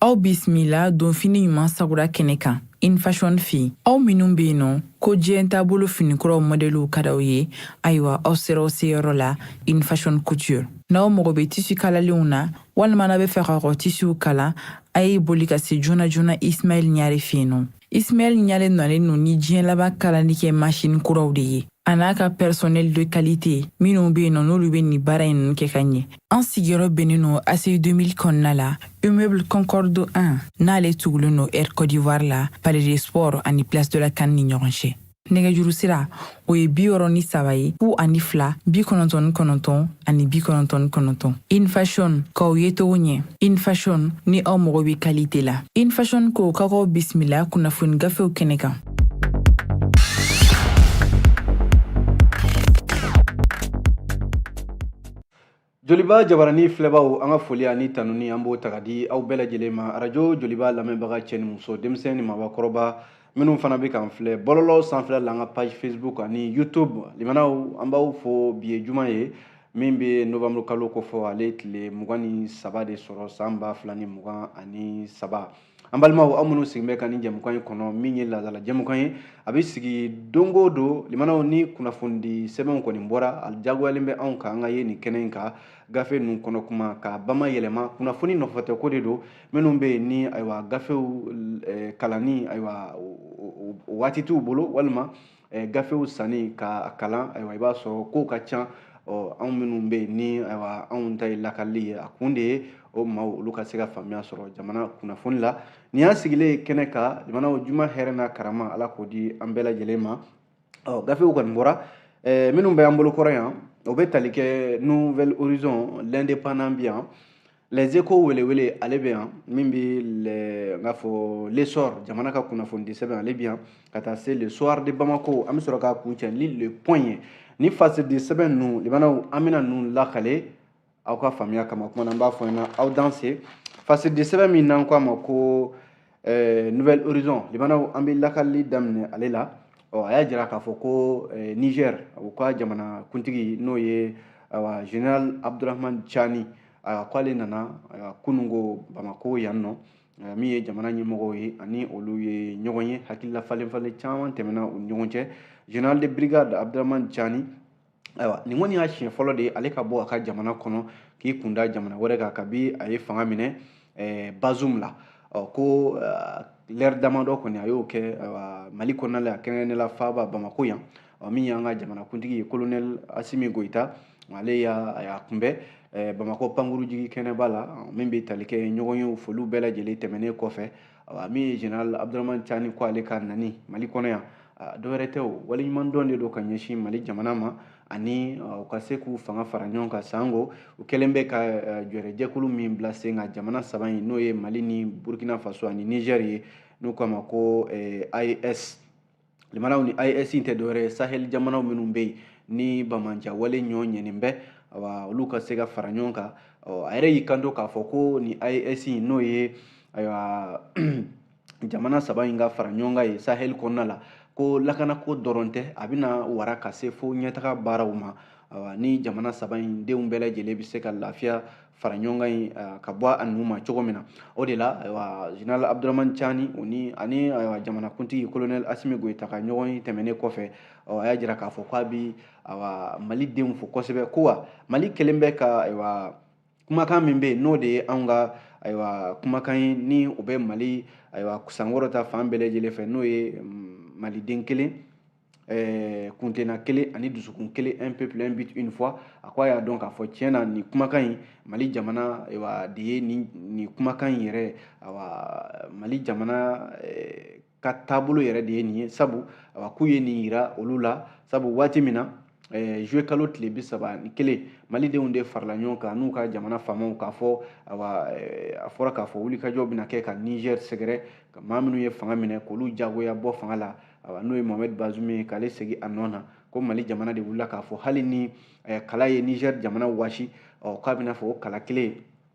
aw bisimila donfini ɲuman sagura kɛnɛ kan infashion fe aw minnu be yen nɔ ko diɲɛ taabolo finikuraw mɔdɛliw ka d'aw ye ayiwa aw sera aw seyɔrɔ la infashion couture n'aw mago be tisi kalalenw na walima n'a be fɛ ka kɔ tisiw kala a ye boli ka se joona joona ismail ɲare fe yen nɔ Ismail Ɲare nalen no ni diɲɛ laban kalali kɛ masini kuraw de ye a n'a ka personnel de qualité minnu be yen nɔ n'olu be nin baara in kɛ ka ɲɛ an sigiyɔrɔ bennen no ACI 2000 kɔnɔna la immeuble concorde 1 n'ale tugulen no air côte d'ivoire la palais des sports ani place de la CAN ni ɲɔgɔn cɛ nɛgɛjuru sira o ye bi wɔɔrɔ ni saba ye fu ani fila bi kɔnɔntɔn ni kɔnɔntɔn ani bi kɔnɔntɔn ni kɔnɔntɔn infashion k'aw yecogo ɲɛ infashion ni aw mago bɛ qualité la infashion ko ka k'aw bisimila kunnafoni gafew kɛnɛ kan joliba jabarani filɛbaw an ka foli ani tanuni an b'o ta ka di aw bɛɛ lajɛlen ma arajo joliba lamɛnbaga cɛ ni muso denmisɛn ni mabakɔrɔba minnu fana bɛ k'an filɛ bɔlɔlɔ sanfɛla la an ka page facebook ani youtube limanaw an b'aw fo bi ye juma ye min bɛ novembre kalo kofɔ ale tile mugan ni saba de sɔrɔ san ba fila ni mugan ani saba an balimaw aw minnu sigilen bɛ ka nin jɛmukan in kɔnɔ min ye laadala jɛmukan ye a bɛ sigi don o don limanaw ni kunnafonidi sɛbɛnw kɔni bɔra a diyagoyalen bɛ anw kan an ka ye nin kɛnɛ in kan gafe ninnu kɔnɔ kuma ka bama yɛlɛma kunnafoni nɔfɛtɛ ko de don minnu bɛ yen ni ayiwa gafew eh, kalanni ayiwa waati t'u bolo walima eh, gafew sanni ka kalan ayiwa i b'a sɔrɔ kow ka ca ɔ anw minnu bɛ yen ni ayiwa anw ta ye lakali ye a kun de ye o maaw olu ka se ka faamuya sɔrɔ jamana kunnafoni la nin y'an sigilen ye kɛnɛ kan jamanaw juma hɛrɛ n'a karama ala k'o di an bɛɛ lajɛlen ma ɔ gafew kɔni bɔra eh, minnu bɛ an bolo kɔrɔ yan o bɛ tali kɛ nouvel horizon l'indépendant bi yan Les Echos welewele ale bɛ yan min bɛ le n k'a fɔ l'essor jamana ka kunnafonidi sɛbɛn ale bɛ yan ka taa se le soir de Bamako an bɛ sɔrɔ k'a kuncɛ ni le point ye ni fasidi sɛbɛn ninnu limanaw an bɛna ninnu lakale aw ka faamuya kama kuma na n b'a fɔ aw ɲɛna aw danse fasidi sɛbɛn min n'an k'a ma ko eh, nouvel horizon limanaw an bɛ lakali daminɛ ale la ɔ a y'a jira k'a fɔ ko eh, niger u ka jamana kuntigi n'o ye awa général abdourahamane tiani a k'ale nana kunungo bamako yan nɔ eh, min ye jamana ɲɛmɔgɔw ye ani olu ye ɲɔgɔn ye hakilila falenfalen caman tɛmɛna u ni ɲɔgɔn cɛ général de brigade abdourahamane tiani ayiwa nin kɔni y'a siɲɛ fɔlɔ de ye ale ka bɔ a ka jamana kɔnɔ k'i kun da jamana wɛrɛ kan kabi a ye fanga minɛ eh, bazum la ɔ ko eh, lɛri damadɔ kɔni a y'o kɛ eh, mali kɔnɔna la kɛrɛnkɛrɛnnenya la faaba bamako yan ɔ min y'an ka jamanakuntigi ye kolonɛli asimi goyita ale y'a kunbɛn eh, bamako pankurujigi kɛnɛba la min bɛ tali kɛ ɲɔgɔnye foliw bɛɛ lajɛlen tɛmɛnen kɔfɛ awa min ye general abdurahman cani ko ale ka nani mali kɔnɔ yan dɔwɛrɛ tɛ o waleɲuman dɔn de don ka ɲɛsin mali jamana ma ani u ka se k'u fanga fara ɲɔgɔn kan sanko u kɛlen bɛ ka jɔrɛjɛkulu min bila sen kan jamana saba in n'o ye mali ni burkina faso ani niger ye n'u k'a ma ko AES limanaw ni AES tɛ dɔwɛrɛ ye sahel jamanaw minnu bɛ yen ni banbaanciya wale ɲɔ ɲɛnen bɛ awa olu ka se ka fara ɲɔgɔn kan a yɛrɛ y'i kanto k'a fɔ ko ni AES n'o ye ayiwa jamana saba in ka fara ɲɔgɔn kan ye sahel kɔnɔna la ko lakanako dɔrɔn tɛ a bɛna wara ka se fo ɲɛtaga baaraw ma awa ni jamana saba in denw bɛɛ lajɛlen bɛ se ka lafiya fara ɲɔgɔnkan in ka bɔ a nun ma cogo min na o de la ayiwa general abdurahman cani o ni ani ayiwa jamanakuntigi colonel asimi goyita ka ɲɔgɔnye tɛmɛnen kɔfɛ ɔ a y'a jira k'a fɔ k'a bi ayiwa mali denw fo kosɛbɛ ko wa mali kɛlen bɛ ka ayiwa kumakan min bɛ yen n'o de ye anw ka ayiwa kumakan ye ni o bɛ mali ayiwa sankɔrɔta fan bɛɛ lajɛlen fɛ n'o ye maliden kelen ɛɛ kuntilenna kelen ani dusukun kelen un peuple un but une foi a ko a y'a dɔn k'a fɔ tiɲɛ na nin kumakan in mali jamana ayiwa de ye nin nin kumakan in yɛrɛ ayiwa mali jamana ka taabolo yɛrɛ de ye nin ye sabu ayiwa k'u ye nin yira olu la sabu waati min na Eh, zuye kalo tile bi saba ni kelen malidenw de farala ɲɔgɔn kan n'u ka jamana faamaw k'a fɔ awa eh, a fɔra k'a fɔ wulikajɔ bɛna kɛ ka niger sɛgɛrɛ ka maa minnu ye fanga minɛ k'olu jagoya bɔ fanga la awa n'o ye mohamed bazum ye k'ale segi a nɔ na ko mali jamana de wulila k'a fɔ hali ni eh, kala ye niger jamana wasi ɔ k'a bɛna fɔ o kala kelen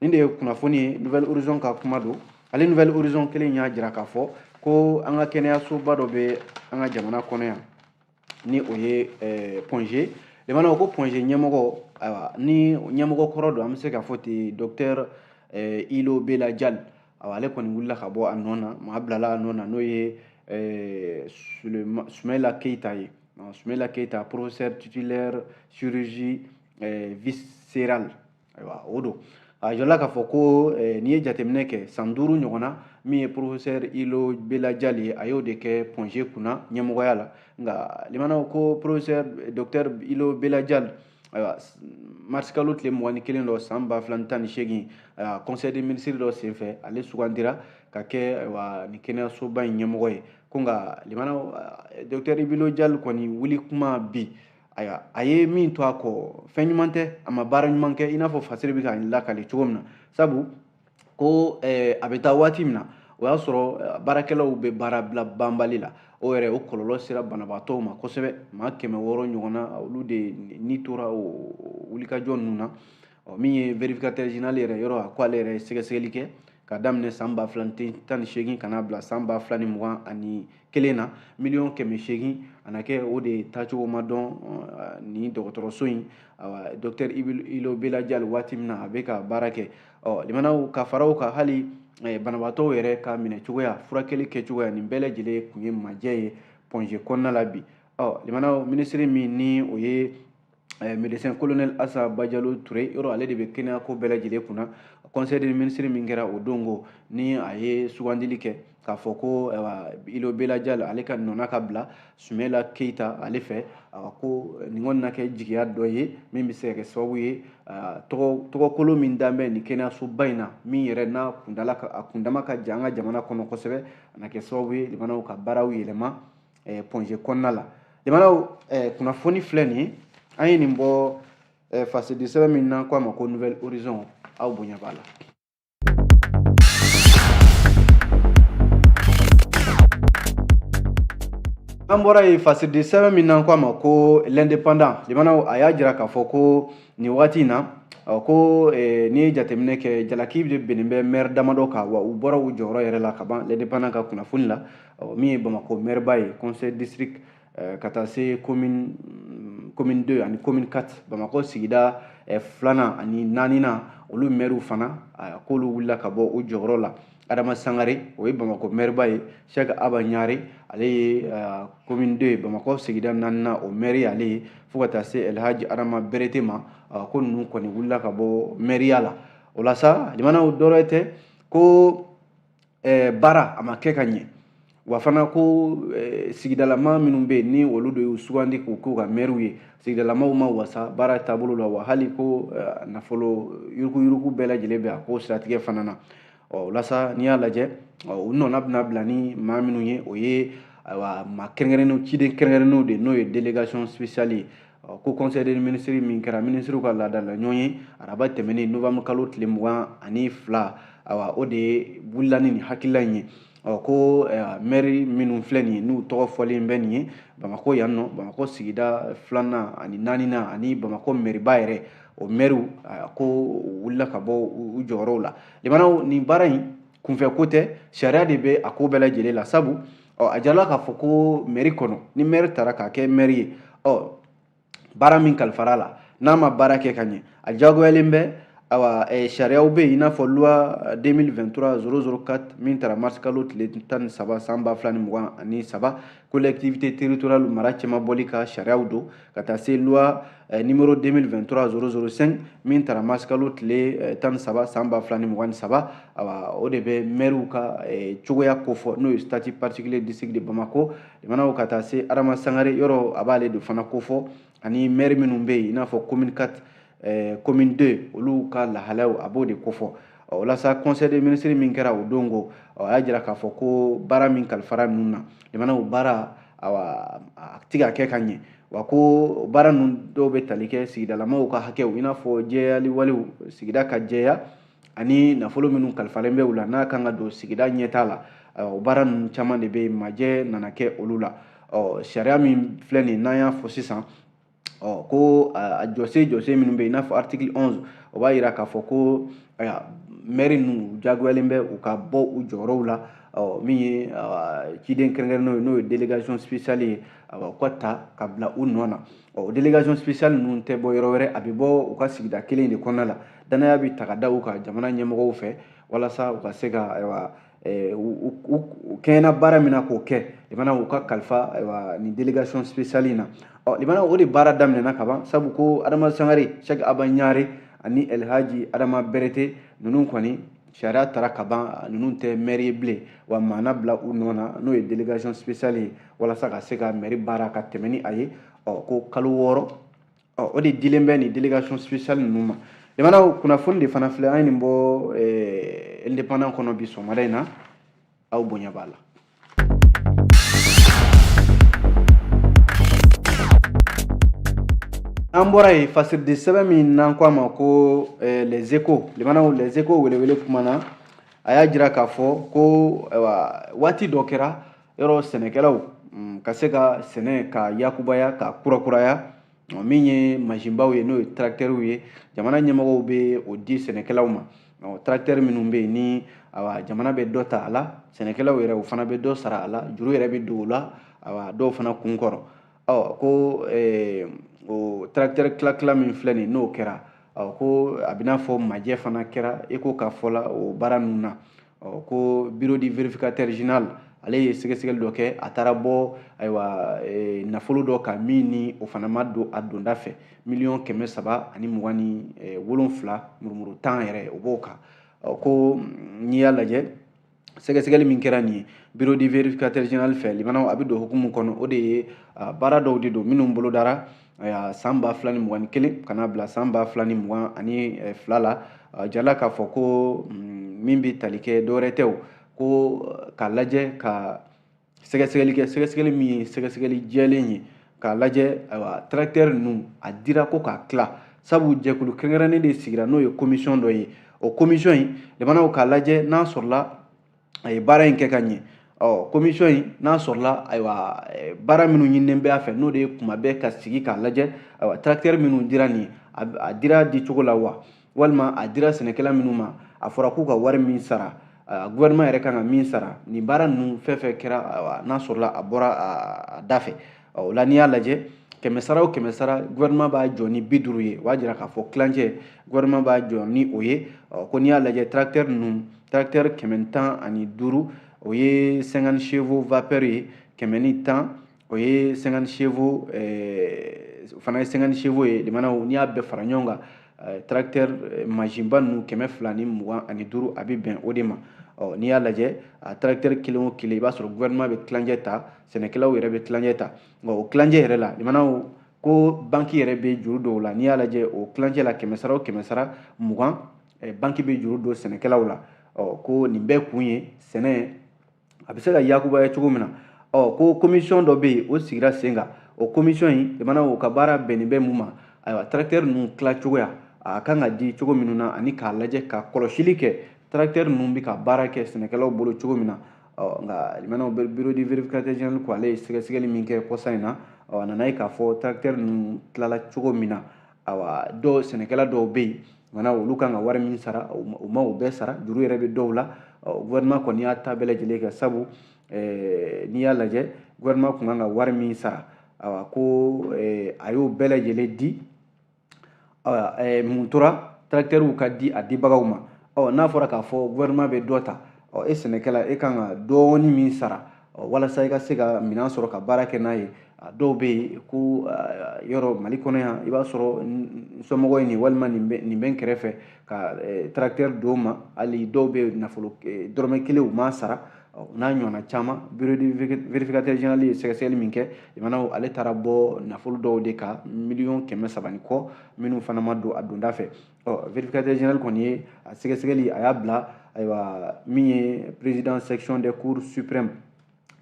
nin de ye kunnafoni ye nouvel horizon ka kuma don ale nouvel horizon kelen y'a jira k'a fɔ ko an ka kɛnɛyasoba dɔ bɛ an ka jamana kɔnɔ yan ni o ye eh, point G limanaw ko point G ɲɛmɔgɔ ayiwa ni ɲɛmɔgɔ kɔrɔ don an bɛ se k'a fɔ ten docteur eh, ilo bela jali awa ale kɔni wulila ka bɔ a nɔ na maa bilala a nɔ na n'o ye eh, sumaila keyita ye sumaila keyita professeur titulaire chirurgie eh, viscérale ayiwa o don a jirala k'a fɔ ko eh, n'i ye jateminɛ kɛ san duuru ɲɔgɔn na min ye porofesɛr ilo bela jali ye a y'o de kɛ point G kunna ɲɛmɔgɔya la nka limanaw ko porofesɛr dɔktɛr ilo bela jali ayiwa marisikalo tile mugan ni kelen don san ba fila ni tan ni seegin ayiwa conseil des ministres dɔ senfɛ ale sugandira ka kɛ ayiwa nin kɛnɛyasoba in ɲɛmɔgɔ ye ko nka limanaw dɔktɛri ilo jali kɔni wuli kuma bi ayiwa a ye min to a kɔ fɛn ɲuman tɛ a ma baara ɲuman kɛ i n'a fɔ fasiri bɛ ka nin lakale cogo min na sabu ko eh, a bɛ taa waati min na o y'a sɔrɔ eh, baarakɛlaw bɛ baara bila banbali la o yɛrɛ o kɔlɔlɔ sera banabaatɔw ma kosɛbɛ maa kɛmɛ wɔɔrɔ ɲɔgɔnna olu de ni tora o wulikajɔ ninnu na ɔ min ye vérificateur général yɛrɛ yɔrɔ a ko ale yɛrɛ ye sɛgɛsɛgɛli kɛ k'a daminɛ san ba fila ni tan ni seegin ka n'a bila san ba fila ni mugan ani kelen na miliyɔn kɛmɛ seegin a na kɛ o de taacogo ma dɔn uh, nin dɔgɔtɔrɔso in awa docteur ilo bela jal waati min na a bɛ ka baara kɛ ɔ lamɛnnaw ka fara o kan hali eh, banabaatɔw yɛrɛ ka minɛcogoya furakɛli kɛcogoya nin bɛɛ lajɛlen kun ye majɛ ye pɔnze kɔnɔna la bi ɔ lamɛnnaw minisiri min ni o ye eh, médecin colonel asa bajalo ture yɔrɔ ale de bɛ kɛnɛya ko bɛɛ lajɛlen kunna conseil des ministres min kɛra o don kɔni a ye sugandili kɛ k'a fɔ ko ilo bela jal ale ka nɔna ka bila sumayila keita ale fɛ ko nin kɔni na kɛ jigiya dɔ ye min bɛ se ka kɛ sababu ye tɔgɔ kolon min dan bɛ nin kɛnɛyasoba in na min yɛrɛ n'a kundala a kundama ka jan an ka jamana kɔnɔ kosɛbɛ a na kɛ sababu ye lamɛnnaw ka baaraw yɛlɛma eh, pɔnze kɔnɔna la lamɛnnaw eh, kunnafoni filɛ nin ye an ye nin bɔ eh, fasidi sɛbɛn min n'an ko a ma ko nouvel horizon aw bonya b'a la an bɔra yen fasidi sɛbɛn min n'an ko a ma ko l'indépendant lamɛnnaw a y'a jira k'a fɔ ko nin wagati in na ko eh, n'i ye jateminɛ kɛ jalaki de binnen bɛ mɛri damadɔ kan wa u bɔra u jɔyɔrɔ yɛrɛ la ka ban l'indépendant ka kunnafoni la ɔ min ye bamakɔ mɛriba ye conseil district eh, ka taa se commune mm, commune 2 ani commune 4 bamakɔ sigida eh, filanan ani naaninan olu mɛriw fana eh, k'olu wulila ka bɔ u jɔyɔrɔ la adama sangare o ye bamakɔ mɛriba ye sɛk aba ɲare ale ye commune 2 bamakɔ sigida naaninan o mɛri ye ale ye fo ka taa se elhaji adama berete ma ko ninnu kɔni wulila ka bɔ mɛriya la o la sa lamɛnnaw dɔwɛrɛ tɛ ko eh, baara a ma kɛ ka ɲɛ wa fana ko eh, sigidalama minnu bɛ yen ni olu de y'u sugandi k'u k'u ka mɛriw ye sigidalamaw ma wasa baara taabolo la wa hali ko eh, nafolo yuruguyurugu bɛɛ lajɛlen bɛ a ko siratigɛ fana na ɔ o la sa n'i y'a lajɛ u nɔna bɛna bila ni maa minnu ye o ye ayiwa maa kɛrɛnkɛrɛnnenw ciden kɛrɛnkɛrɛnnenw de n'o ye délégation spéciale ye ko conseil des ministres min kɛra minisiriw ka laadala ɲɔgɔnye araba tɛmɛnen novembre kalo tile mugan ani fila awa o de wulila ni nin hakilila in ye ɔ ko mɛri minnu filɛ nin ye n'u tɔgɔ fɔlen bɛ nin ye bamakɔ yan nɔ bamakɔ sigida filanan ani naaninan ani bamakɔ mɛriba yɛrɛ o mɛriw k'u wulila ka bɔ u jɔyɔrɔw la lamɛnnaw nin baara in kunfɛ ko tɛ sariya de bɛ a ko bɛɛ lajɛlen la sabu ɔ a jirala k'a fɔ ko mɛri kɔnɔ ni mɛri tara k'a kɛ mɛri ye ɔ baara min kalifara a la n'a ma baara kɛ ka ɲɛ a jagoyalen bɛ awa eh, sariyaw bɛ yen i n'a fɔ loi 2023 004 min tara mars kalo tile tan ni saba san ba fila ni mugan ani saba collectivité territoriale mara cɛmabɔli ka sariyaw don ka taa se loi eh, numéro 2023 005 min tara mars kalo tile eh, tan ni saba san ba fila ni mugan ni saba awa o de bɛ mɛriw ka eh, cogoya kofɔ n'o ye statut particulier district de bamako lamɛnnaw ka taa se adama sangare yɔrɔ a b'ale de fana kofɔ ani mɛri minnu bɛ yen i n'a fɔ commune 4 eh, commune 2 olu ka lahalaw a b'o de kofɔ walasa conseil des ministres min kɛra o don ko a y'a jira k'a fɔ ko baara min kalifara ninnu na jamana o baara awa a ti ka kɛ ka ɲɛ wa ko baara ninnu dɔw bɛ tali kɛ sigidalamaw ka hakɛw i n'a fɔ jɛyali walew sigida ka jɛya ani nafolo minnu kalifalen bɛ u la n'a kan ka don sigida ɲɛtaa la o baara ninnu caman de bɛ yen majɛ nana kɛ olu la sariya min filɛ nin n'an y'a fɔ sisan ɔ ko a jɔsen jɔsen minnu bɛ yen i n'a fɔ article onze o b'a yira k'a fɔ ko ayiwa mɛri ninnu u jagoyalen bɛ u ka bɔ u jɔyɔrɔw la ɔ min ye ciden kɛrɛnkɛrɛnnenw ye n'o ye délégation spéciale ye u ka ta ka bila u nɔ na ɔ o délégation spéciale ninnu tɛ bɔ yɔrɔ wɛrɛ a bɛ bɔ u ka sigida kelen de kɔnɔna la danaya bɛ ta ka da u kan jamana ɲɛmɔgɔw fɛ walasa u ka se ka ayiwa u kɛɲɛna baara min na k'o kɛ lamɛnnaw u ka kalifa ayiwa nin délégation spéciale in na ɔ lamɛnnaw o de baara daminɛna ka ban sabu ko adama sangare sɛki aba ɲare ani elhaji adama berete ninnu kɔni sariya tara ka ban ninnu tɛ mɛri ye bilen wa maa na bila u nɔ na n'o ye délégation spéciale ye walasa ka se ka mɛri baara ka tɛmɛ ni a ye ɔ ko kalo wɔɔrɔ ɔ o de dilen bɛ nin délégation spéciale ninnu ma lamɛnnaw kunnafoni de fana filɛ an ye nin bɔ eh, indépendant kɔnɔ bi sɔgɔmada in na aw bonya b'a la an bɔra yen fasiridi sɛbɛn min n'an ko a ma ko eh, les échos lamɛnnaw les échos welewele kuma na a y'a jira k'a fɔ ko waati dɔ kɛra yɔrɔ sɛnɛkɛlaw mm, ka se ka sɛnɛ ka yakubaya ka kurakuraya min ye mansinbaw ye n'o ye tarakitɛriw ye jamana ɲɛmɔgɔw bɛ o di sɛnɛkɛlaw ma tarakitɛri minnu bɛ yen ni awa jamana bɛ dɔ ta a la sɛnɛkɛlaw yɛrɛ o fana bɛ dɔ sara a la juru yɛrɛ bɛ don o la awa dɔw fana kun kɔrɔ ɔ ko eh, o tarakitɛri tilatila min filɛ nin n'o kɛra ɔ ko a b'i n'a fɔ majɛ fana kɛra échos ka fɔ la o baara ninnu na ɔ ko bureau du vérificateur général ale ye sɛgɛsɛgɛli dɔ kɛ a taara bɔ ayiwa e, nafolo dɔ kan min ni o fana ma don a donda fɛ miliyɔn kɛmɛ saba ani mugan ni e, wolonfila murumuru tan yɛrɛ o b'o kan ɔ ko n'i y'a lajɛ sɛgɛsɛgɛli min kɛra nin ye bureau du vérificateur général fɛ limanaw a bɛ don hukumu kɔnɔ o de ye baara dɔw de don minnu bolodara Ayiwa san ba fila ni mugan ni kelen ka n'a bila san ba fila ni mugan ani eh, fila la a jirala k'a fɔ ko mm, min bɛ tali kɛ dɔwɛrɛ tɛ o ko eh, k'a lajɛ ka sɛgɛsɛgɛli kɛ sɛgɛsɛgɛli min ye sɛgɛsɛgɛli jɛlen ye k'a lajɛ ayiwa tarakitɛri ninnu a dira ko k'a tila sabu jɛkulu kɛrɛnkɛrɛnnen de sigira n'o ye komisiyɔn dɔ ye o komisiyɔn in limanaw k'a lajɛ n'a sɔrɔla a ye baara in kɛ ka ɲɛ ɔ komisiyɔn in n'a sɔrɔla ayiwa eh, baara minnu ɲininen bɛ a fɛ n'o de ye kuma bɛɛ ka sigi k'a lajɛ ayiwa tarakitɛri minnu dira ni a dira di cogo la wa walima a dira sɛnɛkɛla minnu ma a fɔra k'u ka wari min sara gouvernement yɛrɛ kan ka min sara ni baara ninnu fɛn fɛn kɛra ayiwa n'a sɔrɔla a bɔra a da fɛ o la n'i y'a lajɛ kɛmɛ sara o kɛmɛ sara gouvernement b'a jɔ ni bi duuru ye o b'a jira k'a fɔ tilancɛ gouvernement b'a jɔ ni o ye ɔ ko n'i y'a lajɛ tracteur ninnu tracteur kɛmɛ ni tan ani duuru o ye 50 chevaux vapeur ye kɛmɛ ni tan o ye 50 chevaux eh, fana ye 50 chevaux ye limanaw n'i y'a bɛɛ fara ɲɔgɔn kan eh, tracteur eh, masinba ninnu kɛmɛ fila ni mugan ani duuru a bɛ bɛn o de ma ɔ n'i y'a lajɛ a tracteur kelen o kelen i b'a sɔrɔ gouvernement bɛ tilancɛ ta sɛnɛkɛlaw yɛrɛ bɛ tilancɛ ta nka o tilancɛ yɛrɛ la limanaw ko banki yɛrɛ bɛ juru don u la n'i y'a lajɛ o tilancɛ la kɛmɛ sara o kɛmɛ sara mugan eh, banki bɛ juru don sɛnɛkɛlaw la ɔ ko nin bɛɛ kun ye sɛnɛ a bɛ se ka yakubaya cogo min na ɔ ko komisiyɔn dɔ bɛ yen o sigira sen kan o komisiyɔn in limanaw o ka baara bɛnnen bɛ mun ma ayiwa tarakitɛri ninnu tila cogoya a kan ka di cogo minnu na ani k'a lajɛ ka kɔlɔsili kɛ tarakitɛri ninnu bɛ ka baara kɛ sɛnɛkɛlaw bolo cogo min na ɔ nka limanaw bureau du vérificateur général ko ale ye sɛgɛsɛgɛli min kɛ kɔsa in na ɔ a nana ye k'a fɔ tracteur ninnu tilala cogo min na awa dɔw sɛnɛkɛla dɔw bɛ yen limanaw olu kan ka wari min sara u ma o bɛɛ sara juru yɛrɛ bɛ dɔw la gouvernement kɔni y'a ta bɛɛ lajɛlen kɛ sabu n'i y'a lajɛ gouvernement tun kan ka wari min sara awa ko a y'o bɛɛ lajɛlen di eh, mun tora tracteurw ka di a dibagaw ma ɔ n'a fɔra k'a fɔ gouvernement bɛ dɔ ta ɔ e sɛnɛkɛla e kan ka dɔɔni min sara ɔ walasa i ka se ka minɛn sɔrɔ ka baara kɛ n'a ye a dɔw bɛ yen ko yɔrɔ Mali kɔnɔ yan i b'a sɔrɔ n somɔgɔ ye nin walima nin bɛ nin bɛ n kɛrɛfɛ ka tracteur d'o ma hali dɔw bɛ nafolo dɔrɔmɛ kelen u m'a sara n'a ɲɔgɔnna caman bureau de vérificateur général ye sɛgɛsɛgɛli min kɛ limanaw ale taara bɔ nafolo dɔw de kan miliyɔn kɛmɛ saba ni kɔ minnu fana ma don a donda fɛ ɔ vérificateur général kɔni ye a sɛgɛsɛgɛli a y'a bila ayiwa min ye président section des cours suprême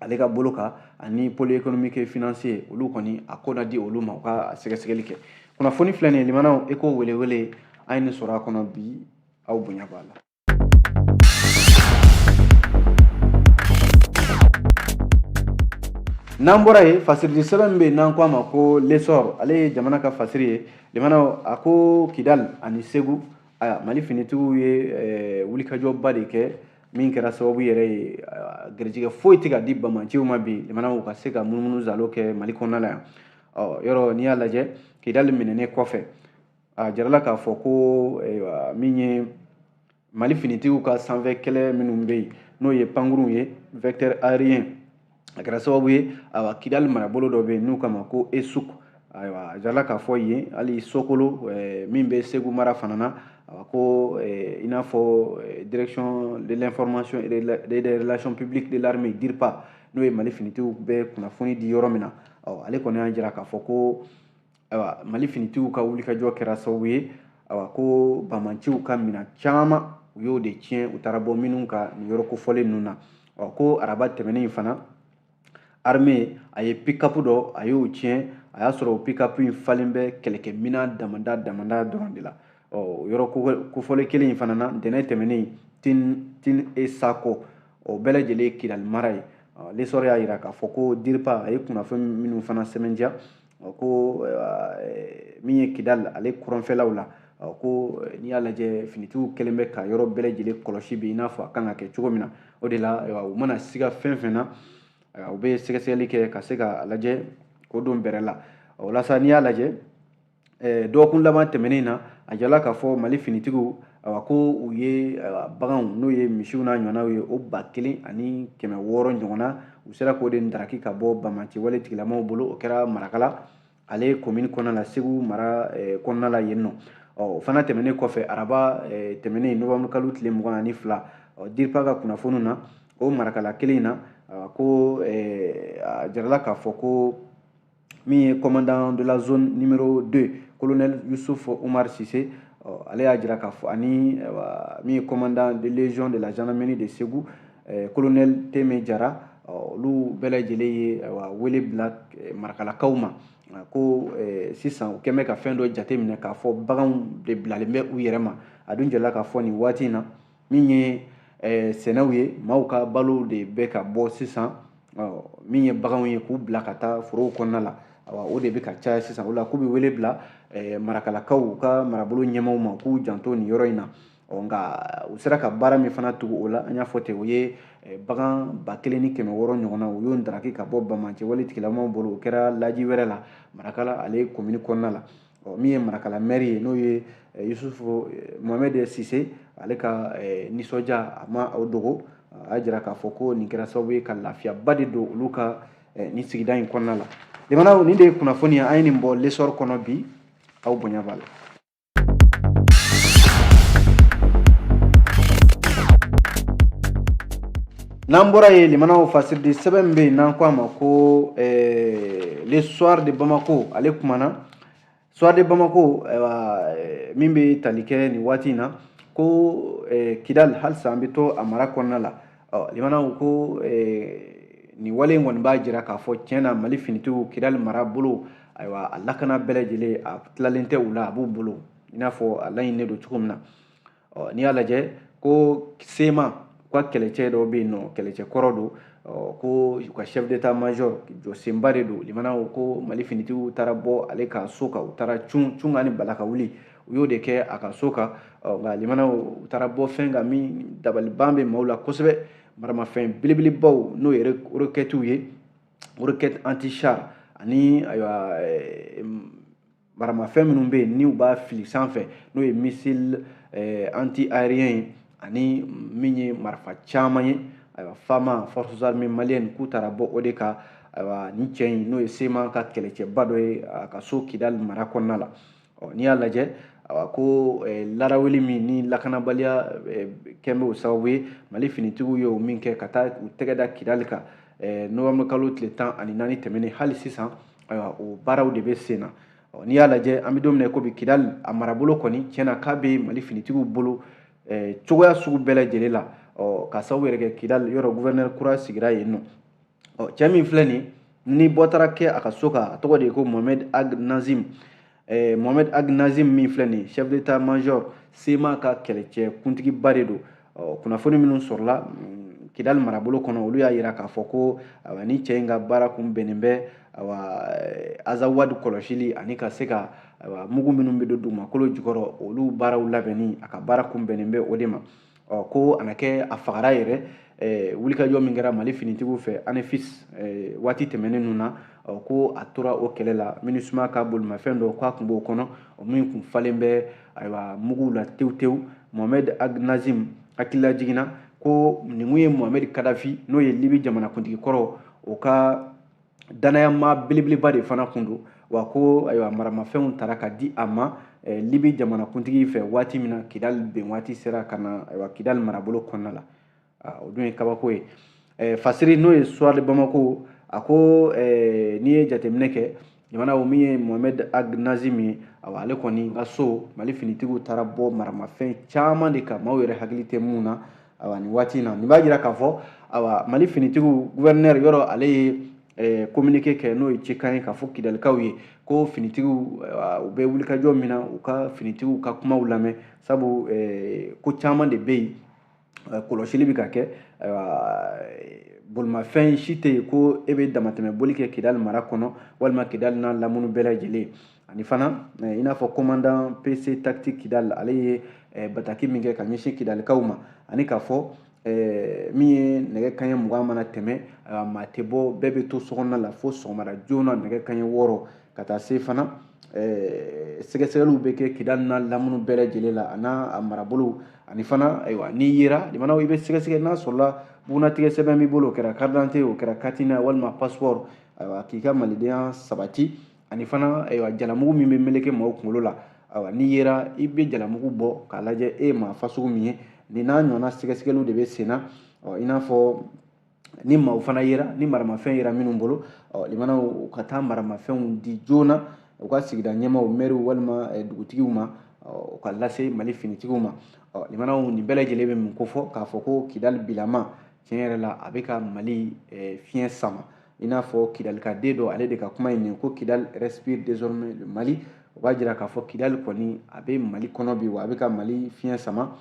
ale ka bolo kan ani pôle économique et financier olu kɔni a ko na di olu ma u ka sɛgɛsɛgɛli kɛ kunnafoni filɛ nin ye limanaw eko welewele a ye nin sɔrɔ a kɔnɔ bi aw bonya b'a la N'an bɔra yen fasiri di sɛbɛn min bɛ yen n'an k'a ma ko l'essor ale ye jamana ka fasiri ye limanaw a ko kidali ani segu mali finitigiw ye wulikajɔba de kɛ min kɛra sababu yɛrɛ ye garijɛgɛ foyi tɛ ka di bamanciw ma bi limanaw ka se ka munumunu zalo kɛ mali kɔnɔna la yan yɔrɔ n'i y'a lajɛ kidali minɛnen kɔfɛ a jarala k'a fɔ ko min ye mali finitigiw ka sanfɛ kɛlɛ minnu bɛ yen n'o ye pankurunw ye vecteur aérien a kɛra sababu ye ayiwa kidali marabolo dɔ bɛ yen n'u k'a ma ko esuk ayiwa a jarala k'a fɔ yen hali sokolo min bɛ segu mara fana na awa ko i n'a fɔ direction de l'information et des relations publiques de l'armée dirpa n'o ye mali finitigiw bɛ kunnafoni di yɔrɔ min na awa ale kɔni y'a jira k'a fɔ ko ayiwa mali finitigiw ka wulikajɔ kɛra sababu ye ayiwa ko bamanciw ka minan caman u y'o de tiɲɛ u taara bɔ minnu kan nin yɔrɔ kofɔlen ninnu na ɔ ko araba tɛmɛnen fana arme a ye pikapu dɔ a y'o tiɲɛ a y'a sɔrɔ o pikapu in falen bɛ kɛlɛkɛminan damada damada dɔrɔn de la ɔ o yɔrɔ kofɔlen kelen in fana na ntɛnɛn tɛmɛnen tin tinesako o bɛɛ lajɛlen ye kidali mara ye l'essor y'a jira k'a fɔ ko diripa a ye kunnafoni minnu fana sɛbɛntiya ko eh, min ye kidali ale kɔrɔnfɛlaw la ko eh, n'i y'a lajɛ finitigiw kɛlen bɛ ka yɔrɔ bɛɛ lajɛlen kɔlɔsi bi i n'a fɔ a kan ka kɛ cogo min na o de la u mana siga fɛn fɛn na u bɛ sɛgɛsɛgɛli kɛ ka se k'a lajɛ k'o dɔn bɛrɛ la walasa n'i y'a lajɛ eh, dɔgɔkun laban tɛmɛnen na a jala k'a fɔ mali finitigiw awa ko u ye baganw n'o ye misiw n'a ɲɔgɔnnaw ye o ba kelen ani kɛmɛ wɔɔrɔ ɲɔgɔnna u sera k'o de ndaraki ka bɔ bamanci wale tigilamaw bolo o kɛra marakala ale komini kɔnɔna la segu mara eh, kɔnɔna la yen nɔ o fana tɛmɛnen kɔfɛ araba eh, tɛmɛnen novanburu kalo tile mugan ani fila diripa ka kunnafoniw na o marakala kelen in na ko eh, a jarala k'a fɔ ko min ye commandant de la zone numéro 2 colonel Youssouf Omar Sise ɔ ale y'a jira k'a fɔ ani min ye commandant de légion de la gendarmerie de Segu eh, colonel Teme Jara olu bɛɛ lajɛlen ye wele bila eh, marakalakaw ma ko eh, sisan u kɛn bɛ ka fɛn dɔ jateminɛ k'a fɔ baganw de bilalen bɛ u yɛrɛ ma a dun jɛla k'a fɔ nin waati in na min ye eh, sɛnɛw ye maaw ka balo de bɛ ka bɔ sisan min ye baganw ye k'u bila ka taa forow kɔnɔna la awa o de bɛ ka caya sisan o la k'u bɛ wele bila eh, marakalakaw ka marabolo ɲɛmaaw ma k'u janto nin yɔrɔ in na nka u sera ka baara min fana tugu o la an y'a fɔ ten o ye eh, bagan ba kelen ni kɛmɛ wɔɔrɔ ɲɔgɔnna u y'o daraki ka bɔ banbaanci wale tigilamaw bolo o kɛra laji wɛrɛ la marakala ale komini kɔnɔna la ɔ min ye marakala mɛri ye n'o ye eh, yusufu eh, mohamɛd sise ale ka eh, nisɔndiya a ma o dogo a y'a jira k'a fɔ ko nin kɛra sababu ye ka lafiyaba de don olu ka nin sigida in kɔnɔna la limanaw nin de ye kunnafoni ye an ye nin bɔ lesɔri kɔnɔ bi aw bonya b'a la n'an bɔra yen limanaw fasiridi sɛbɛn min bɛ yen n'an ko a ma ko eh, le soir de bamako ale kumana soir de bamako eh, min bɛ tali kɛ nin waati in na ko eh, kidal halisa an bɛ to a mara kɔnɔna la limanaw ko nin wale in kɔni b'a jira k'a fɔ tiɲɛ na mali finitigiw kidal mara bolo ayiwa a lakana bɛɛ lajɛlen a tilalen tɛ u la a b'u bolo i n'a fɔ a laɲininen don cogo min na ɔ n'i y'a lajɛ ko sema u ka kɛlɛcɛ dɔw bɛ yen n'o kɛlɛcɛ kɔrɔ don ko u ka chef d'état major jɔsenba de don limanaw ko ko mali finitigiw taara bɔ ale ka so kan u taara cun cun kan ni bala ka wuli u y'o de kɛ a ka so kan nka limanaw u taara bɔ fɛn kan min dabaliban bɛ maaw la kosɛbɛ maramafɛn belebelebaw n'o ye rokɛtiw ye rokɛti anti char ani ayiwa maramafɛn minnu bɛ yen n'u b'a fili sanfɛ n'o ye missile eh, anti aérien ye ani min ye marifa caman ye ayiwa fama forces armées maliennes k'u taara bɔ o de kan ayiwa nin cɛ in n'o ye sema ka kɛlɛcɛba dɔ ye a ka so kidali mara kɔnɔna la ɔ n'i y'a lajɛ awa ko eh, laraweli min ni lakanabaliya eh, kɛn bɛ o sababu ye mali finitigiw ye o min kɛ ka taa u tɛgɛ da kidali kan eh, nowɛmburukalo tile tan ani naani tɛmɛnen hali sisan ayiwa o baaraw de bɛ sen na n'i y'a lajɛ an bɛ don min na i ko bi kidali a marabolo kɔni tiɲɛ na k'a bɛ mali finitigiw bolo eh, cogoya sugu bɛɛ lajɛlen la ka sababu yɛrɛ kɛ kidali yɔrɔ guvɛrinɛri kura sigira yen n'o cɛ min filɛ nin ni bɔ taara kɛ a ka so kan a tɔgɔ de ye ko mohamed ag nazim eh, mohamɛd ag nazim min filɛ nin chef d'état major sema ka kɛlɛcɛ kuntigiba de don oh, kunnafoni minnu sɔrɔla mm, kidali marabolo kɔnɔ olu y'a yira k'a fɔ ko awa, nin cɛ in ka baara kun bɛnnen bɛ awa, eh, azawadi kɔlɔsili ani ka se ka awa, mugu minnu bɛ don dugumakolo jukɔrɔ olu baaraw labɛnni a ka baara kun bɛnnen bɛ o de ma ɔ ko a na kɛ a fagara yɛrɛ eh, wulikajɔ min kɛra mali finitigiw fɛ anefis eh, waati tɛmɛnen ninnu na ɔ ko a tora o kɛlɛ la minusma ka bolimafɛn dɔ k'a kun b'o kɔnɔ min kun falen bɛ ayiwa muguw la tewu tewu mohamɛd ag nazim hakililajigin na ko nin kun ye mohamɛd kadafi n'o ye libi jamanakuntigi kɔrɔ o ka danayamaa belebeleba de fana kun don wa ko ayiwa maramafɛnw tara ka di a ma eh, libi jamanakuntigi fɛ waati min na kidali ben waati sera ka na ayiwa kidali marabolo kɔnɔna la ah, o dun ye kabako ye eh, fasiri n'o ye suwari bamako a ko eh, n'i ye jateminɛ kɛ jamana o min ye mohamɛd ag nazim ye awa ale kɔni ka so mali finitigiw taara bɔ maramafɛn caman de kan maaw yɛrɛ hakili tɛ mun na awa nin waati in na nin b'a jira k'a fɔ awa mali finitigiw gouverneur yɔrɔ ale ye eh, communiqué kɛ n'o ye cikan ye k'a fɔ kidalikaw ye ko finitigiw u bɛ wulikajɔ min na u ka finitigiw ka kumaw lamɛn sabu eh, ko caman de bɛ yen eh, kɔlɔsili bɛ ka kɛ bolimafɛn si tɛ yen ko e bɛ damatɛmɛ boli kɛ kidali mara kɔnɔ walima kidali n'a lamunu bɛɛ lajɛlen ani fana eh, i n'a fɔ commandant pc tactique kidal ale ye eh, bataki min kɛ ka ɲɛsin kidalikaw ma ani k'a fɔ eh, min ye nɛgɛ kanɲɛ mugan mana tɛmɛ maa tɛ bɔ bɛɛ bɛ to sokɔnɔna la fo sɔgɔmada joona nɛgɛ kanɲɛ wɔɔrɔ ka taa se fana sɛgɛsɛgɛliw bɛ kɛ kidali n'a lamunu bɛɛ lajɛlen la a n'a marabolow ani fana ayiwa n'i yera limanaw i bɛ sɛgɛsɛgɛ n'a sɔrɔla bugunnatigɛ sɛbɛn b'i bolo o kɛra carte d'identité o kɛra carte nina walima passeport ayiwa k'i ka malidenya sabati ani fana ayiwa jalamugu min bɛ meleke maaw kunkolo la ayiwa n'i yera i bɛ jalamugu bɔ k'a lajɛ e ye maa fasugu min ye nin n'a ɲɔgɔnna sɛgɛsɛgɛliw de bɛ senna ɔ i n'a fɔ ni maaw fana yera ni maramafɛn yera minnu bolo ɔ limanaw ka taa maramafɛnw di joona u ka sigida ɲɛmaaw mɛriw walima eh, dugutigiw ma u k'a lase mali finitigiw ma limanaw nin bɛɛ lajɛlen bɛ mun kofɔ k'a fɔ ko kidali bilama tiɲɛ yɛrɛ la a bɛ ka mali eh, fiɲɛ sama i n'a fɔ kidalikaden dɔ ale de ka kuma in nin ko kidali respire désormais le mali o b'a jira k'a fɔ kidali kɔni a bɛ mali kɔnɔ bi wa a bɛ ka mali fiɲɛ sama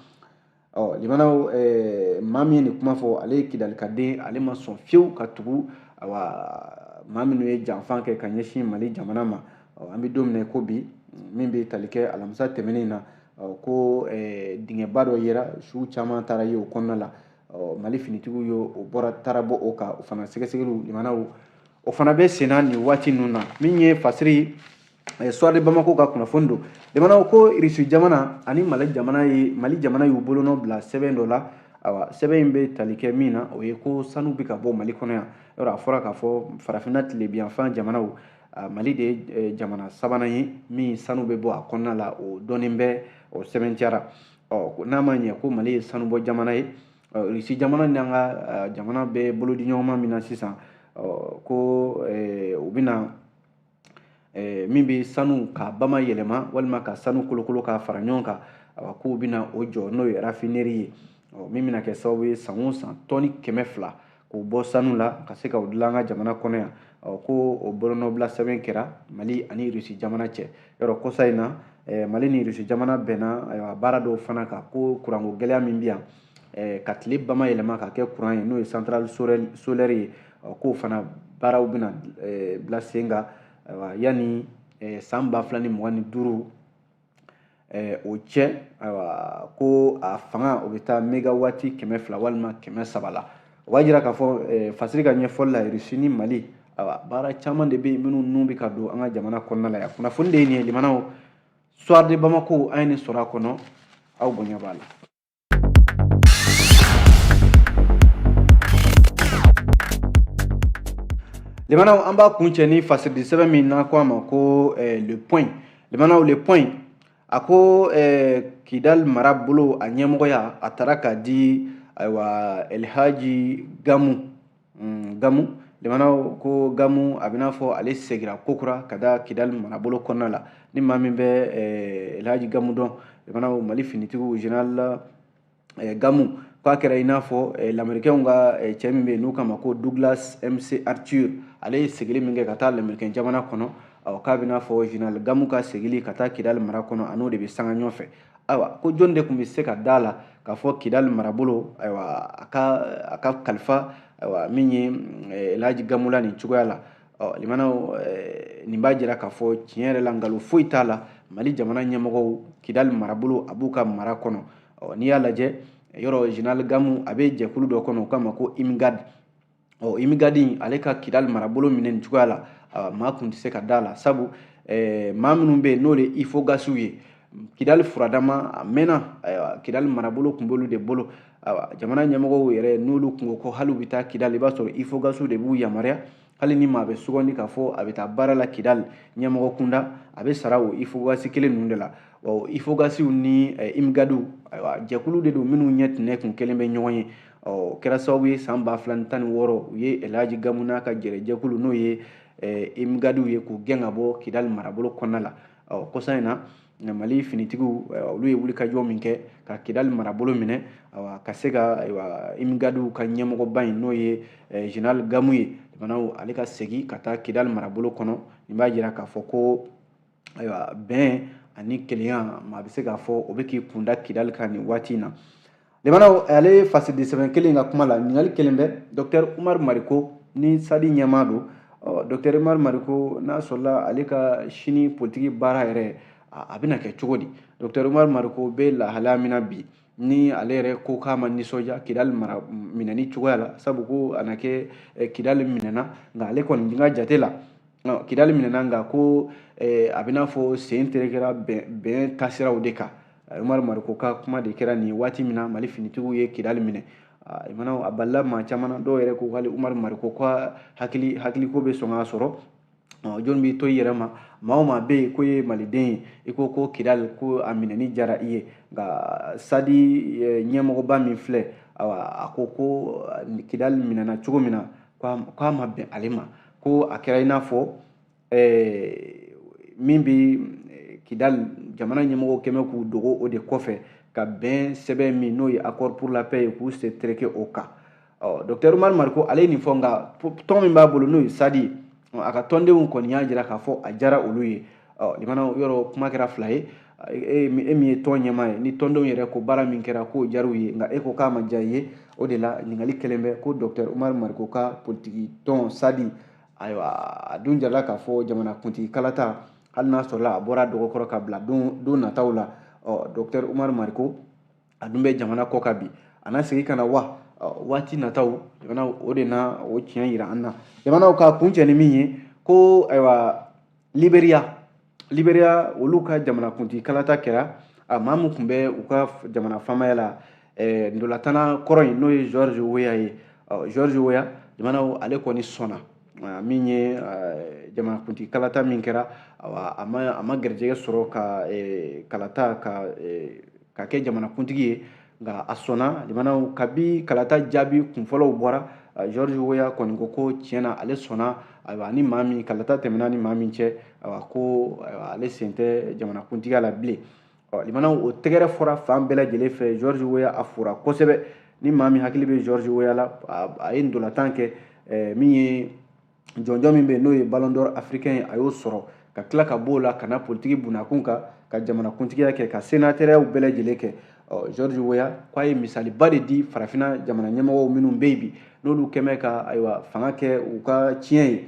ɔ limanaw eh, maa min ye nin kuma fɔ ale ye kidalikaden ale ma sɔn fiyewu ka tugu awa maa minnu ye janfa kɛ ka ɲɛsin mali jamana ma ɔ an bɛ don min na ko bi min bɛ tali kɛ alamisa tɛmɛnen na ko eh, dingɛba dɔ yera suw caman taara ye o kɔnɔna la ɔ mali finitigiw ye o bɔra taara bɔ o kan o fana sɛgɛsɛgɛliw limanaw o fana bɛ senna nin waati ninnu na min ye fasiri eh, suwari bamako ka kunnafoni don limanaw ko irisi jamana ani mali jamana ye mali jamana y'u bolonɔ bila sɛbɛn dɔ la awa sɛbɛn in bɛ tali kɛ min na o ye ko sanu bɛ ka bɔ mali kɔnɔ yan yɔrɔ a fɔra k'a fɔ farafinna tilebinyanfan jamanaw ah, mali de ye eh, jamana sabanan ye min sanu bɛ bɔ a kɔnɔna la o dɔnnen bɛ o sɛbɛntiyara ɔ n'a ma ɲɛ ko mali ye sanubɔ jamana ye rusi jamana ni an ka jamana bɛ bolodiɲɔgɔnma min na sisan ko u bɛna min bɛ sanu k'a bama yɛlɛma walima ka sanu kolokolo k'a fara ɲɔgɔn kan k'u bɛna o jɔ n'o ye rafineri ye min bɛna kɛ sababu ye san o san tɔni kɛmɛ fila k'o bɔ sanu la ka se ka o dilan an ka jamana kɔnɔ yan ko o bolonɔbila sɛbɛn kɛra mali ani irisi jamana cɛ yɔrɔ kɔsa in na mali ni irisi jamana bɛnna baara dɔw fana kan ko kuranko gɛlɛya min bɛ yan ka tile bama yɛlɛma ka kɛ kuran ye n'o ye centrale solaire ye k'o fana baaraw bɛna bila sen kan yanni san ba fila ni mugan ni duuru o cɛ ayiwa ko a fanga o bɛ taa megawati kɛmɛ fila walima kɛmɛ saba la o b'a jira k'a fɔ fasiri ka ɲɛfɔli la irisi ni mali ayiwa baara caman de bɛ yen minnu nun bɛ ka don an ka jamana kɔnɔna la yan kunnafoni de ye nin ye limanaw soir de bamako an ye nin sɔrɔ a kɔnɔ aw bonya b'a la Limanaw an b'a kuncɛ ni fasiridi sɛbɛn min n'a ko a ma ko eh, le point limanaw le point a ko eh, kidal mara bolo a ɲɛmɔgɔya a taara k'a di ayiwa elhaji gamu mm, gamu limanaw ko gamu a bɛna fɔ ale segira kokura ka taa kidali marabolo kɔnɔna la ni maa min bɛ eh, elhaji gamu dɔn limanaw mali finitigiw general eh, gamu k'a kɛra i n'a fɔ eh, lamerikɛnw ka eh, cɛ min bɛ yen n'u k'a ma ko douglas mc arthur ale ye segili min kɛ ka taa lamerikɛn jamana kɔnɔ awɔ k'a bɛna fɔ general gamu ka segili ka taa kidali mara kɔnɔ a n'o de bɛ sanga ɲɔgɔn fɛ ayiwa ko jɔn de tun bɛ se ka da a la k'a fɔ kidali marabolo ayiwa a ka a ka kalifa ayiwa min ye eh, elhaji gamu la nin cogoya la ɔ limanaw eh, nin b'a jira k'a fɔ tiɲɛ yɛrɛ la nkalon foyi t'a la mali jamana ɲɛmɔgɔw kidali marabolo a b'u ka mara kɔnɔ ɔ n'i y'a lajɛ yɔrɔ general gamu a bɛ jɛkulu dɔ kɔnɔ u k'a ma ko imgad ɔ imigadi ale ka kidali marabolo minɛ nin cogoya la maa tun tɛ se ka da a la sabu eh, maa minnu bɛ yen n'o de ye ifogasiw ye kidali furadama a mɛnna kidali marabolo tun b'olu de bolo jamana ɲɛmɔgɔw yɛrɛ n'olu tun ko ko hali u bɛ taa kidali i b'a sɔrɔ ifogasiw de b'u yamaruya hali ni maa bɛ sugandi k'a fɔ a bɛ taa baara la kidali ɲɛmɔgɔ kunda a bɛ sara o ifogasi kelen ninnu de la ifogasiw ni imigadiw ayiwa jɛkulu de don minnu ɲɛ tun ne kun kelen bɛ ɲɔgɔn ye o kɛra sababu ye san ba fila ni tan ni wɔɔrɔ u ye elhaji gamu n'a ka jɛrɛjɛkulu n'o ye imigadiw ye k'u gɛn ka bɔ kidali marabolo kɔnɔna la ɔ kɔsa in na mali finitigiw olu ye wulikajɔ min kɛ ka kidali marabolo minɛ ka se ka imigadiw ka ɲɛmɔgɔba in n'o ye general gamu ye limanaw ale ka segin ka taa kidali marabolo kɔnɔ nin b'a jira k'a fɔ ko ayiwa bɛn ani kelenya maa bɛ se k'a fɔ o bɛ k'i kun da kidali kan nin waati in na lamɛnnaw ale fasidi sɛbɛn kelen ka kuma la ɲininkali kɛlen bɛ dɔktɛri umaru mariko ni sadi ɲɛmaa don dɔktɛri umaru mariko n'a sɔrɔla ale ka sini politiki baara yɛrɛ a bɛna kɛ cogo di dɔktɛri umaru mariko bɛ lahalaya min na bi ni ale yɛrɛ ko k'a ma nisɔndiya kidali minɛni cogoya la sabu ko a na kɛ eh, kidali minɛna nka ale kɔni ka jate la kidali minɛna nka ko eh, a b'i n'a fɔ sen terekera bɛn taasiraw de kan eh, umaru mariko ka kuma de kɛra ni waati min na mali finitigiw ye kidali minɛ ah, a balila maa caman na dɔw yɛrɛ ko hali umaru mariko ka hakili hakiliko bɛ sɔn k'a sɔrɔ jɔnni b'i to i yɛrɛ ma maa o maa bɛ yen ko ye maliden ye i ko ko kidali ko a minɛni diyara i ye nka sadi ɲɛmɔgɔba min filɛ a ko ko kidali minɛna cogo min na k'a ma bɛn ale ma ko a kɛra i n'a fɔ min bɛ kidali jamana ɲɛmɔgɔw kɛmɛ k'u dogo o de kɔfɛ ka bɛn sɛbɛn min n'o ye accord pour la paix ye k'u sen tereke o kan ɔ dɔktɛr umaru mariko ale ye nin fɔ nka tɔn min b'a bolo n'o ye sadi a ka tɔndenw kɔni y'a jira k'a fɔ a diyara olu ye ɔ lamɛnnaw yɔrɔ kuma kɛra fila ye e min ye tɔn ɲɛmaa ye ni tɔndenw yɛrɛ ko baara min kɛra k'o diyar'u ye nka e ko k'a ma diya i ye o de la ɲininkali kɛlen bɛ ko dɔktɛr umaru mariko ka politiki tɔn sadi ayiwa a dun jirala k'a fɔ jamanakuntigi kalata hali n'a sɔrɔla a bɔra dɔgɔkɔrɔ ka bila don nataw la ɔ dɔktɛr umaru mariko a dun bɛ jamana kɔkan bi a na segin ka na wa waati nataw jamana o de na o tiɲɛ yira an na jamanaw ka kuncɛ ni min ye ko ayiwa liberiya liberiya olu ka jamanakuntigi kalata kɛra a maa min tun bɛ u ka jamana faamaya la ntolatanna kɔrɔ in n'o ye george weah ye george weah jamanaw ale kɔni sɔnna min ye jamanakuntigi kalata min kɛra a ma garijɛgɛ sɔrɔ ka kalata ka kɛ jamanakuntigi ye nka a sɔnna jamanaw kabi kalata jaabi kunfɔlɔw bɔra george weah kɔni ko ko tiɲɛ na ale sɔnna ayiwa ni maa min kalata tɛmɛna ni maa min cɛ ayiwa ko ale sen tɛ jamanakuntigiya la bilen lamɛnnaw o tɛgɛrɛ fɔra fan bɛɛ lajɛlen fɛ george weah a fora kosɛbɛ ni maa min hakili bɛ george weah la a ye ntolatan kɛ eh, min ye jɔnjɔn min bɛ n'o ye ballon d'or africain ye a y'o sɔrɔ ka tila ka b'o la ka na politiki bunakun kan ka jamanakuntigiya kɛ ka senatɛrɛyaw bɛɛ lajɛlen kɛ george weah k'a ye misaliba de di farafina jamana ɲɛmɔgɔw minnu bɛ yen bi n'olu kɛmɛ ka ayiwa fanga kɛ u ka ciyɛn ye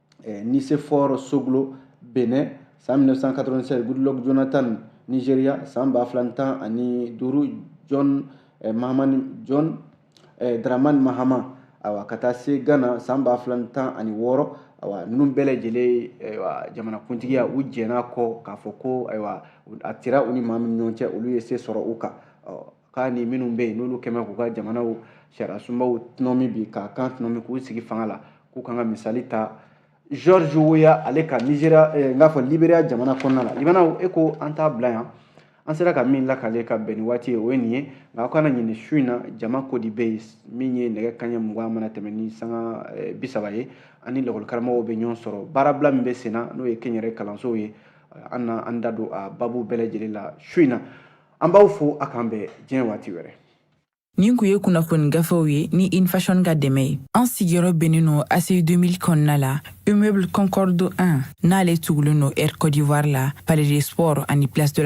eh, Nicéphore Soglo, Bénin, san 1996, Goodluck Jonathan, Nigeria, san ba fila tan ani duuru John eh, Mahamani John eh, Dramani Mahama awa ka taa se Ghana san ba fila tan ani wɔɔrɔ awa ninnu bɛɛ lajɛlen ayiwa jamanakuntigiya u jɛn'a kɔ k'a fɔ ko ayiwa a tira u ni maa min ɲɔgɔn cɛ olu ye se sɔrɔ u kan k'a ni minnu bɛ yen n'olu kɛmɛ k'u ka jamanaw sariyasunbaw tɔnɔmi bi k'a kan tɔnɔmi k'u sigi fanga la k'u kan ka misali ta George Weah ale ka Nigeria eh, n k'a fɔ Liberia jamana kɔnɔna la libanaw e ko an t'a bila yan an sera ka min lakale ka bɛn ni waati ye o ye nin ye nka aw kana ɲinɛ su in na jama ko di bɛ yen min ye nɛgɛ kanɲɛ mugan mana tɛmɛ ni sanga eh, bi saba ye ani lakɔlikaramɔgɔw bɛ ɲɔgɔn sɔrɔ baarabila min bɛ sen na n'o ye kɛnyɛrɛ kalansow ye an na an da don a baabu bɛɛ lajɛlen la su in na an b'aw fo a k'an bɛn diɲɛ waati wɛrɛ nin kun ye kunnafoni gafew ye ni In Fashion ka dɛmɛ ye an sigiyɔrɔ bɛnnen don ACI 2000 kɔnɔna la immeuble Concorde 1 n'ale tugulen don Air Côte d'Ivoire la Palais des Sports ani Place de la